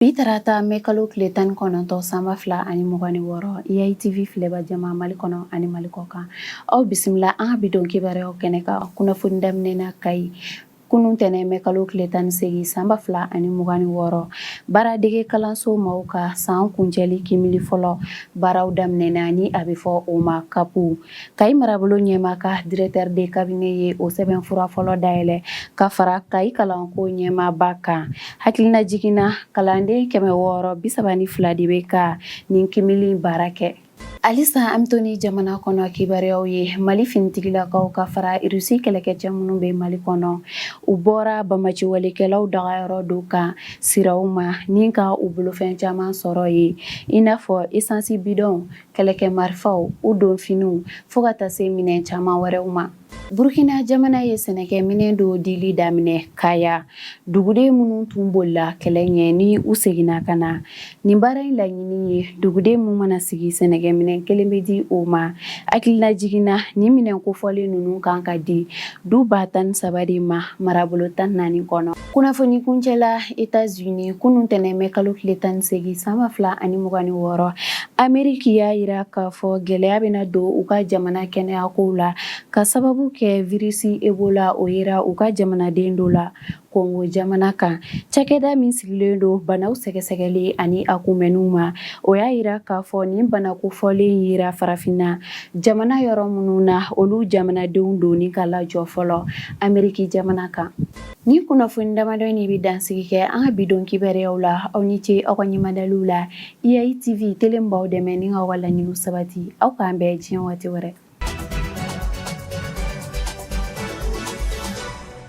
Bi tarata mɛ kalo tile tan ni kɔnɔntɔn san ba fila ani mugan ni wɔɔrɔ IATV filɛbaa jama mali kɔnɔ ani mali kɔkan aw bisimila an ka bi don kibaruyaw kɛnɛ kan kunnafoni daminɛna kayi kunun tɛnɛn mɛ kalo tile tan ni segin san ba fila ani mugan ni wɔɔrɔ baara dege kalanso maaw ka san kuncɛli kiimɛli fɔlɔ baaraw daminɛna ni a bɛ fɔ o ma CAP Kayi marabolo ɲɛmaa ka directeur de cabinet ye o sɛbɛn fura fɔlɔ dayɛlɛ ka fara kayi kalanko ɲɛmaaba kan hakilina jiginna kalanden kɛmɛ wɔɔrɔ bisaba ni fila de bɛ ka nin kiimɛli baara kɛ halisa an bɛ to ni jamana kɔnɔ kibaruyaw ye mali finitigilakaw ka fara rusi kɛlɛkɛ cɛ minnu bɛ mali kɔnɔ u bɔra banbaanciwalekɛlaw dagayɔrɔ dɔ kan siraw ma ni ka u bolofɛn caman sɔrɔ yen i n'a fɔ esansi bidɔn kɛlɛkɛ marifaw u donfiniw fo ka taa se minɛn caman wɛrɛw ma burukina jamana ye sɛnɛkɛ minɛn dɔw dili daminɛ kaya duguden minnu tun bolila kɛlɛ ɲɛ ni u seginna ka na nin baara in laɲini ye duguden min mana sigi sɛnɛkɛ minɛn kelen bɛ di o ma hakilila jiginna nin minɛn kofɔlen ninnu kan ka di du ba tan ni saba de ma marabolo tan ni naani kɔnɔ kunnafoni kuncɛla etats unis kunun tɛnɛn mɛ kalo tile tan ni segin san ba fila ani mugan ni wɔɔrɔ ameriki y'a jira k'a fɔ gɛlɛya bɛna don u ka jamana kɛnɛyakow la ka sababu kɛ virisi ebola o yera u ka jamanaden dɔ la kongo jamana kan cakɛda min sigilen don banaw sɛgɛsɛgɛli ani a kunbɛnniw ma o y'a jira k'a fɔ nin bana kofɔlen yera farafinna jamana yɔrɔ minnu na olu jamanadenw donni ka lajɔ fɔlɔ ameriki jamana kan Nin kunnafoni damadɔ in de bɛ dansigi kɛ an ka bi don kibaruyaw la aw ni ce aw ka ɲɛmadaliw la IATV tele min b'aw dɛmɛ ni k'aw ka laɲiniw sabati aw k'an bɛn diɲɛ waati wɛrɛ.